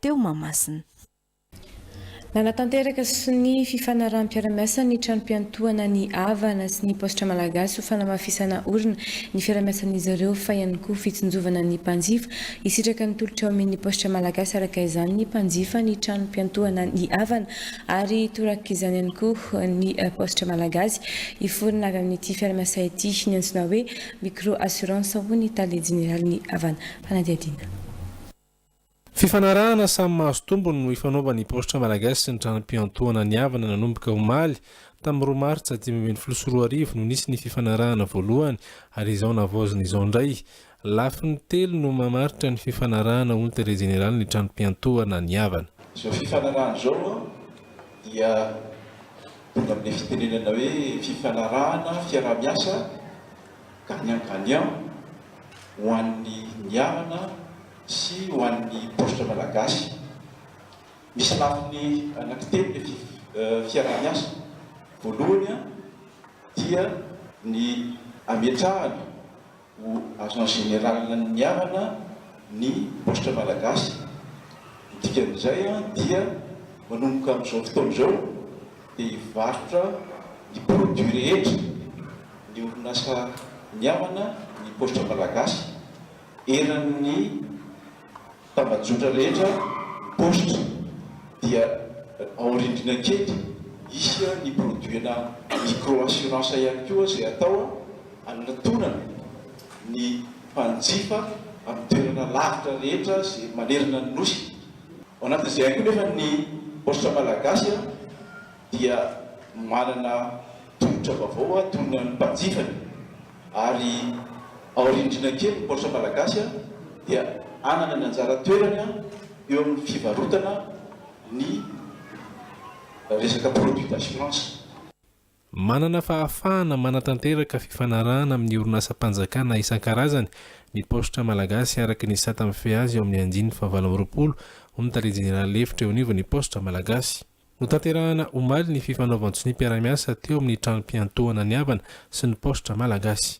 teo Mahamasina. Nanatanteraka sonia fifanaraham-piarahamiasa ny tranom-piantohana ny Avana sy ny Paositra Malagasy ho fanamafisana orina ny fiarahamiasan'izy ireo fa ihany koa fitsinjovana ny mpanjifa hisitraka ny tolotra omen'ny Paositra Malagasy araka izany ny mpanjifa ny tranom-piantohana ny Avana ary torak'izany ihany koa ny Paositra Malagasy hiforona avy amin'ity fiarahamiasa ity ny antsoina hoe micro assurance hoy ny Tale Jeneralin'ny Avana Fanadihadiana Fifanarahana samy mahazo tombony no ifanaovan' ny Paositra Malagasy sy ny Tranom-piantohana nihavana nanomboka omaly tamin'ny roa martsa dimy ambin'ny folo sy roa arivo no nisy ny fifanarahana voalohany ary izao navaozina izao indray. Lafiny telo no mamaritra ny fifanarahana hoy ny Tale Jeneraly ny Tranom-piantohana nihavana. Izao fifanarahana izao moa dia tonga amin'ilay fitenenana hoe fifanarahana fiaraha-miasa gagnant gagnant ho an'ny niarana sy ho an'ny paositra malagasy. Misy lafiny anankitelo ny fiaraha-miasa, voalohany dia ny ametrahana ho agent général ny niarana ny paositra malagasy, ny dikan'izay dia manomboka amin'izao fotoana izao, dia hivarotra ny produits rehetra ny orinasa mihamana ny paositra malagasy eran'ny tambajotra rehetra ny paositra dia ao rindrina kely hisy ny produits-na micro assurance ihany koa izay atao hanatonana ny mpanjifa amin'ny toerana lavitra rehetra izay manerana ny nosy Ao anatin'izay ihany koa nefa ny paositra malagasy dia manana tolotra vaovao toy ny an'ny mpanjifany ary aoriany indrindra kely ny paositra malagasy dia hanana ny anjara toerany eo amin'ny fivarotana ny resaka produits d'assurance. Manana fahafahana manatanteraka fifanarahana amin'ny orinasam-panjakana isan-karazany ny Paositra Malagasy araka ny sata mifehy azy ao amin'ny andininy fahavalo amby roapolo, hoy ny Tale Jeneraly lefitra eo anivon'ny Paositra Malagasy. Notanterahana omaly ny fifanaovan-tsoniam-piara-miasa teo amin'ny tranom-piantohana ny Avana sy ny Paositra Malagasy.